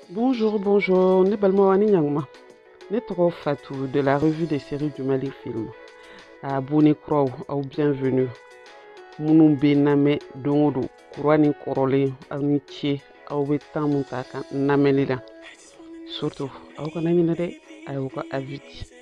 Bonjour, bonjour, ne balimaw ani ɲaguma. Ne tɔgɔ Fatou de la revue des séries du Mali Film. Abonné kuraw, aw bienvenue. Minnu bɛ n lamɛn don o don, kura ni kɔrɔlen, aw ni ce, aw bɛ temps min ta ka n lamɛnni la. Surtout, aw kana ɲinɛ dɛ, a y'aw ka avis di.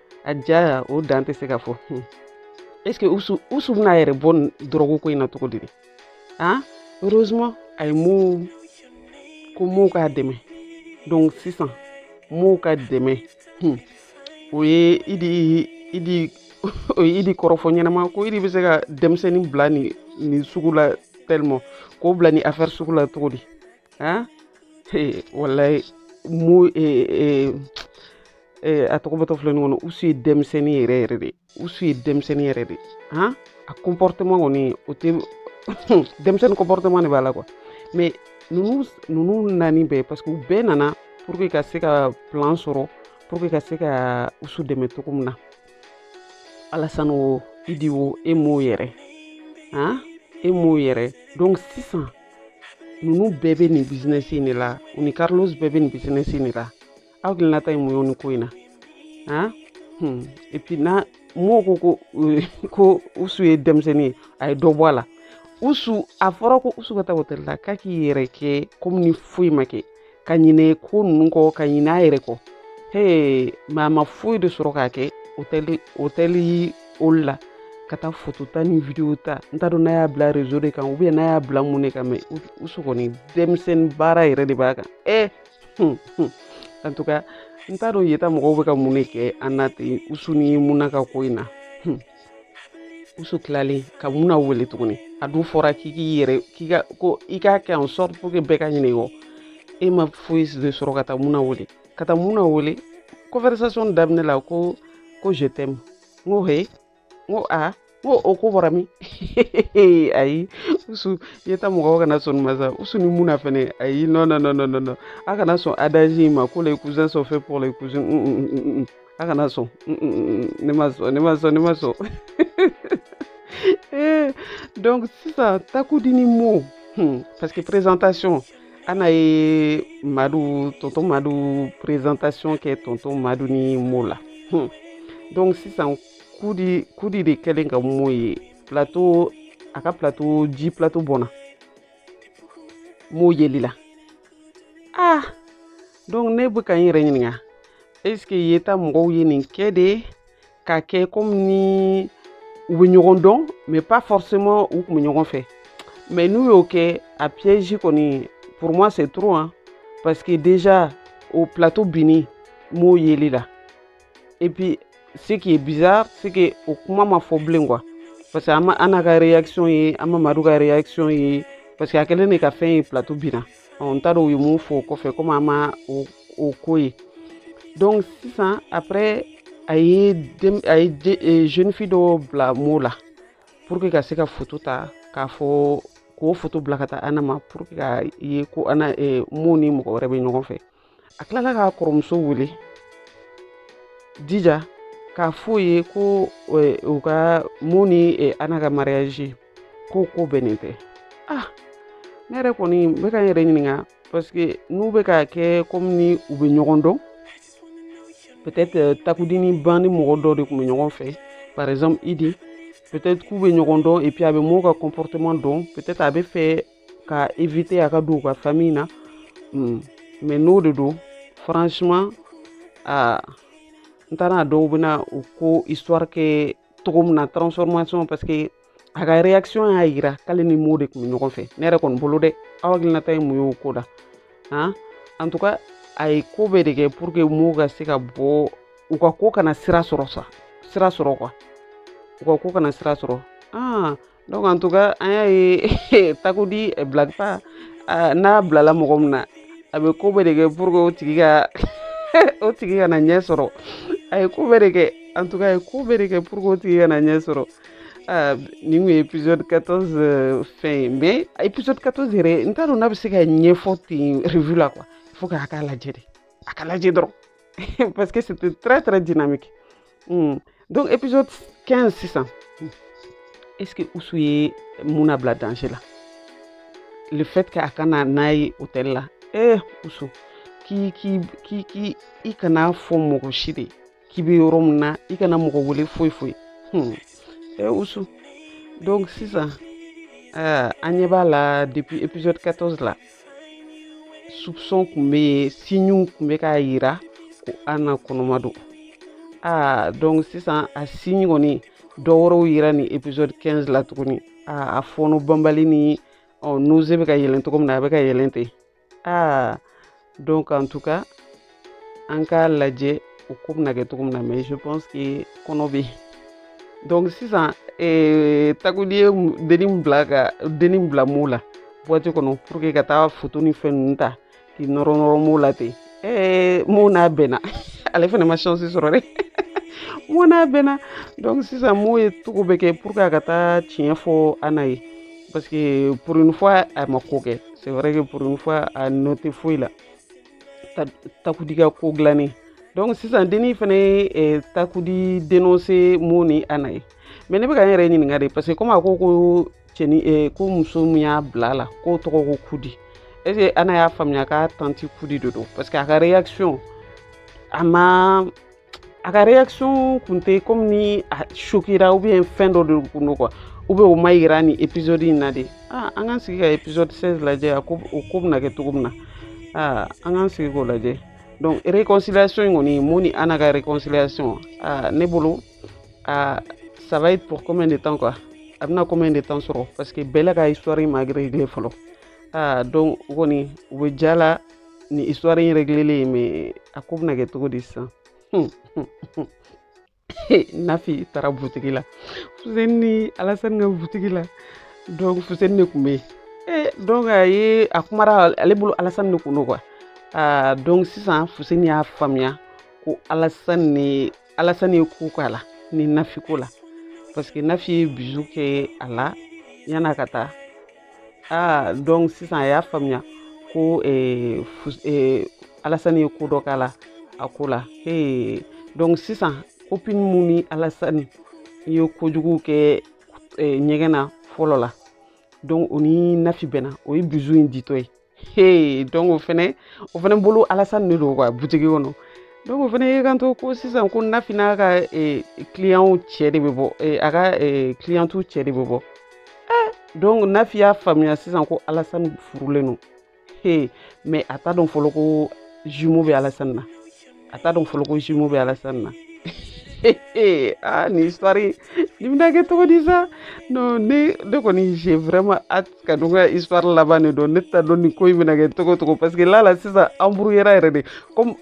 a diyara o dan tɛ se ka fɔ hmm. est ce que usu usu bɛna a yɛrɛ bɔ dɔrɔgu ko in na cogo di de han heureusement a ye mo ko mo k'a dɛmɛ donc sisan mo ka dɛmɛ hmm. o ye idi idi o ye idi kɔrɔfɔ ɲɛnama ko idi bɛ se ka denmisɛnnin bila nin nin sugu la tellement k'o bila nin affaire sugu la cogo di han walayi mo a tɔgɔ bɔtɔ filɛ nin ko in na usu ye denmisɛnnin yɛrɛ yɛrɛ de usu ye denmisɛnnin yɛrɛ de han a comportement kɔni o tɛ denmisɛnnin comportement de b'a la quoi mais ninnu ninnu nani bɛɛ parce que u bɛɛ nana pour que ka se ka plan sɔrɔ pour que ka se ka usu dɛmɛ cogo min na alasani o idi o e mo yɛrɛ han e mo yɛrɛ donc sisan ninnu bɛɛ bɛ nin business in de la u ni carlos bɛɛ bɛ nin business in de la aw hakilinata ye mun ye nin ko in na han hmm. et puis n'a mɔgɔw ko euh, ko usu ye denmisɛnnin ye a ye dɔ bɔ a la usu a fɔra ko usu ka taa hôtel la k'a k'i yɛrɛ kɛ comme ni foyi ma kɛ ka ɲinɛ ko ninnu kɔ ka ɲinɛ a yɛrɛ kɔ hee mais a ma foyi de sɔrɔ k'a kɛ hôtel hôtel olu la ka taa photo ta ni vidéo ta n t'a dɔn n'a y'a bila réseau de kan ou bien n'a y'a bila mun de kan mais usu kɔni denmisɛnnin baara yɛrɛ de b'a kan ɛ en tout cas n t'a dɔn yeta mɔgɔw bɛ ka mun de kɛ an na ten usu ni muna ka ko in na usu tilalen ka muna wele tuguni a dun fɔra k'i k'i yɛrɛ k'i ka ko i k'a kɛ en sorte pour que bɛɛ ka ɲinɛ i kɔ e ma foyi de sɔrɔ ka taa muna wele ka taa muna wele conversation daminɛ la ko ko je t'aime n ko he n ko a n ko o ko bɔra min ayi usu yeta mɔgɔw kana sɔn ma sa usu ni muna fɛnɛ ayi non non non non non a kana sɔn adage in ma ko les cousins sont faits pour les cousins mm, mm, mm, a kana sɔn ne ma sɔn ne ma sɔn ne ma sɔn eh, donc sisan takudi ni mo hmm, parce que présentation ana ye madu tonton madu présentation kɛ tonton madu ni mo la hmm. donc sisan kudi kudi de kɛlen ka mo ye plateau a ka plateau ji plateau bɔnna mo yeli la ah donc ne bɛ ka n yɛrɛ ɲininka est ce que yeta mɔgɔw ye nin kɛ de k'a kɛ komi ni u bɛ ɲɔgɔn dɔn mais pas forcément u tun bɛ ɲɔgɔn fɛ mais n'u y'o kɛ a piège kɔni pour moi c'est trop hein parce que déjà o plateau binni mo yeli la et puis ce qui est bizarre c'est que o kuma ma fɔ bilen quoi parce que an ma ana ka réaction ye an ma madu ka réaction ye parce que a kɛlen de ka fɛn ye plateau binna n t'a dɔn u ye mun fɔ o kɔfɛ komi an ma o o ko ye donc sisan après a ye dem a ye e, jeune fille dɔ bila mo la pour que ka se ka photo ta k'a fɔ k'o photo bila ka taa ana ma pour que ka ye ko ana e, mo ni mɔgɔ wɛrɛ bɛ ɲɔgɔn fɛ a tilala k'a kɔrɔmuso wele dija k'a f'o ye ko eh, u ka mo ni eh, ana ka mariage ko o ko bɛnnen tɛ ah ne yɛrɛ kɔni n bɛ ka n yɛrɛ ɲininka parce que n'u bɛ k'a kɛ komi ni u bɛ ɲɔgɔn dɔn peut-être eh, takudini ban ni mɔgɔ dɔ de tun bɛ ɲɔgɔn fɛ par exemple idi peut-être k'u bɛ ɲɔgɔn dɔn et puis a bɛ mɔgɔw ka comportement dɔn peut-être a bɛ fɛ ka éviter a ka don u ka famille na mm. mais n'o de don franchement ah, n t'a n t'a dɔn u bɛna o ko histoire kɛ cogo min na transformation parce que a ka réaction y'a yira k'ale ni mo de tun bɛ ɲɔgɔn fɛ ne yɛrɛ kɔni bolo dɛ aw hakilinata ye mun ye o ko la han en tout cas a ye ko bɛɛ de kɛ pour que mo ka se ka bɔ u ka ko kana sira sɔrɔ sa sira sɔrɔ quoi u ka ko kana sira sɔrɔ ah donc en tout cas an y'a ye takudi eh, blague pas ah, n'a bilala mɔgɔ min na a bɛ ko bɛɛ de kɛ pour que o tigi ka o tigi kana ɲɛ sɔrɔ a ye ko bɛɛ de kɛ en tout cas a ye ko bɛɛ de kɛ pour que o tigi kana ɲɛ sɔrɔ ah, nin kun ye épisode 14 euh, fɛn ye mais épisode 14 yɛrɛ n t'a dɔn n'a bɛ se ka ɲɛfɔ ten revue la quoi il faut k'a k'a lajɛ de a k'a lajɛ dɔrɔn parce que c'était très très dynamique Hmm. donc épisode 15 sisan hmm. est ce que usu ye muna bila danger la le fait que a ka na n'a ye hôtel la eh usu k'i k'i k'i k'i i kan'a fɔ mɔgɔ si ye k'i bɛ yɔrɔ min na i kana mɔgɔ wele foyi foyi hmm. eh usu donc sisan uh, an ɲɛ b'a la depuis épisode 14 la soupçon tun bɛ yen signew tun bɛ k'a yira ko ana kɔnɔma don aa donc sisan a signe kɔni dɔ wɛrɛw yira nin épisode 15 la tuguni aa a fɔɔnɔ banbali ni ɔ nausée bɛ ka yɛlɛn cogo min na a bɛ ka yɛlɛn ten aa donc en tout cas an k'a lajɛ o ko bɛna kɛ cogo min na mais je pense que kɔnɔ bɛ donc sisan eh, takudi ye denni bila ka denni bila mo la boîte kɔnɔ pour que ka taa foto ni fɛn ninnu ta k'i nɔrɔ nɔrɔ mo la ten eh, mo n'a bɛnna ale fana ma chance sɔrɔ dɛ mo n'a bɛnna donc sisan mo ye cogo bɛɛ kɛ pour que a ka taa tiɲɛ fɔ ana ye parce que pour une fois a ma ko kɛ c'est vrai que pour une fois a nɔ tɛ foyi la takudi ka ko dilannen donc sisan denni fana ye eh, takudi dénoncé mo ni ana ye mais ne bɛ ka n yɛrɛ ɲininka de parce que comme a ko ko cɛni eh, ko muso min y'a bila a la k'o tɔgɔ ko kudi est ce que ana y'a faamuya k'a tanti kudi de don parce que a ka réaction a ma a ka réaction kun tɛ comme ni a choquéra ou bien fɛn dɔ de kun don quoi ou bien o ma yira nin épisode in na de aa an k'an sigi ka épisode 16 lajɛ a ko o ko bɛna kɛ cogo min na aa an k'an sigi k'o lajɛ donc réconciliation in kɔni mo ni ana ka réconciliation aa ne bolo aa ça va être pour combien de temps quoi a bɛna combien de temps sɔrɔ parce que bɛɛ la ka histoire in ma réglé fɔlɔ aa donc o kɔni u bɛ ja la nin histoire in réglélen ye mais a ko bɛna kɛ cogo di sisan nafi taara butigi la fuseni ni alasani ka butigi la donc fuseni de tun bɛ yen donc a ye a kumara ale bolo alasani de kun don quoi donc sisan fuseni y'a faamuya ko alasani ni alasani ye ko k'a la ni nafi ko la parce que nafi ye bisou kɛ a la yan'a ka taa aa donc sisan a y'a faamuya ko eh, eh, alasani ye ko dɔ k'a la a ko la hey. donc sisan copine mun ni alasani ye kojugu kɛ eh, ɲɛgɛn na fɔlɔ la donc o ni nafi bɛnna o ye bisou in ditɔ ye Hey, donc o fɛnɛ o fɛnɛ bolo Alassane de don quoi butigi kɔnɔ donc o fɛnɛ y'i kanto ko sisan ko Nafi n'a ka eh, client cɛ de bɛ bɔ eh, a ka eh, cliente cɛ de bɛ bɔ eh, donc Nafi y'a faamuya sisan ko Alassane furulen don hey, mais a t'a dɔn fɔlɔ ko jumeau bɛ Alassane na a t'a dɔn fɔlɔ ko jumeau bɛ alasani na ah nin histoire nin bɛna kɛ cogo di sa non ne ne kɔni j'ai vraiment hâte ka dɔn ka histoire laban de dɔn ne t'a dɔn nin ko in bɛna kɛ cogo cogo parce que là là sisan embrouilléra yɛrɛ de comme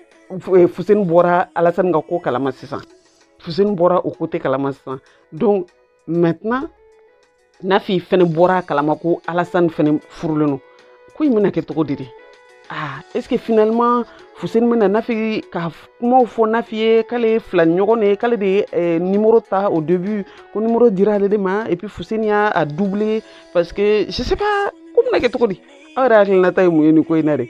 eh, Fuseni bɔra Alasani ka ko kalama sisan Fuseni bɔra o côté kalama sisan donc maintenant nafi fɛnɛ bɔra a kalama ko alasani fɛnɛ furulen don ko in bɛna kɛ cogo di de ah est ce que finalement fuseni bɛna nafi ka kumaw fɔ nafi ye k'ale ye filani ɲɔgɔn de ye k'ale de ye eh, numéro ta au début ko numéro dira ale de ma et puis fuseni y'a a doublé parce que je sais pas ko bɛna kɛ cogo di aw yɛrɛ hakilinata ye mun ye nin ko in na de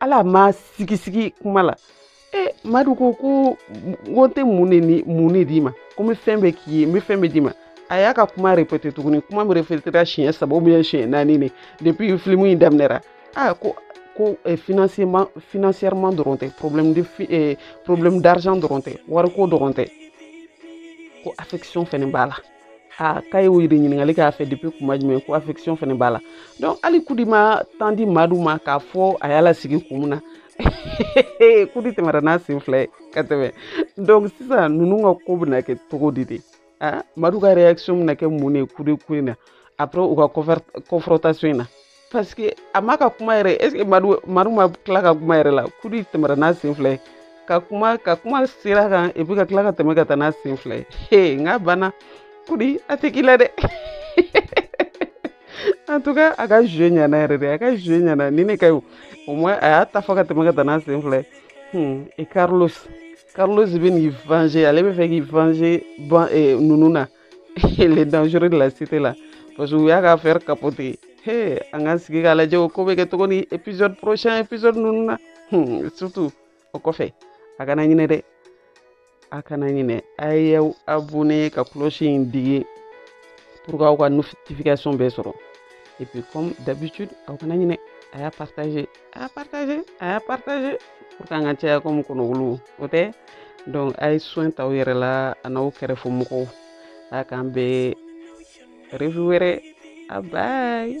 ale ma sigisigi kuma la e madu ko ko ko n tɛ mun de ni mun de d'i ma ko n bɛ fɛn bɛɛ k'i ye n bɛ fɛn bɛɛ d'i ma a y'a ka kuma répété tuguni kuma min répétera siɲɛ saba ou bien siɲɛ naani de depuis filimu in daminɛra a ko ko eh, financièrement financièrement dɔrɔn tɛ problème de eh, problème d'argent dɔrɔn tɛ wariko dɔrɔn tɛ ko affection fɛnɛ b'a la aa k'a ye o de ɲininkali k'a fɛ depuis kuma jumɛn ko affection fɛnɛ b'a la donc hali kudi ma temps di madu ma k'a fɔ a y'a lasigi kun min na kudi tɛmɛra n'a sen fila ye ka tɛmɛ donc sisan ninnu ka ko bɛna kɛ cogo di de madu ka réaction bɛna kɛ mun de ye kudi ko in na après u ka confrontation in na parce que a ma ka kuma yɛrɛ est ce que madu madu ma tila ka kuma yɛrɛ la kudi tɛmɛra n'a sen fila ye ka kuma ka kuma sira kan et puis ka tila ka tɛmɛ ka taa n'a sen fila ye he n k'a banna kudi a tɛ k'i la dɛ en tout cas a ka jeu ɲana yɛrɛ de a ka jeu ɲana ni ne ka ye au moins a y'a ta fɔ ka tɛmɛ ka taa n'a sen fila ye hmm et carlos carlos bɛ n'i venger ale bɛ fɛ k'i venger ban eh, ninnu na les dangereux de la cité la parce que u y'a ka affaire capoter he an k'an sigi k'a lajɛ o ko bɛ kɛ cogo min épisode prochain épisode ninnu na hmm, surtout o kɔfɛ a kana ɲinɛ dɛ a kana ɲinɛ a y'aw abonné ka cloche in digi pour k'aw ka notification bɛɛ sɔrɔ et puis comme d'habitude aw kana ɲinɛ a y'a partager a y'a partager a y'a partager pour que an ka caya comme kɔnɔwulu o tɛ donc a ye soin ta aw yɛrɛ la a n'aw kɛrɛfɛmɔgɔw a k'an bɛn review wɛrɛ a bye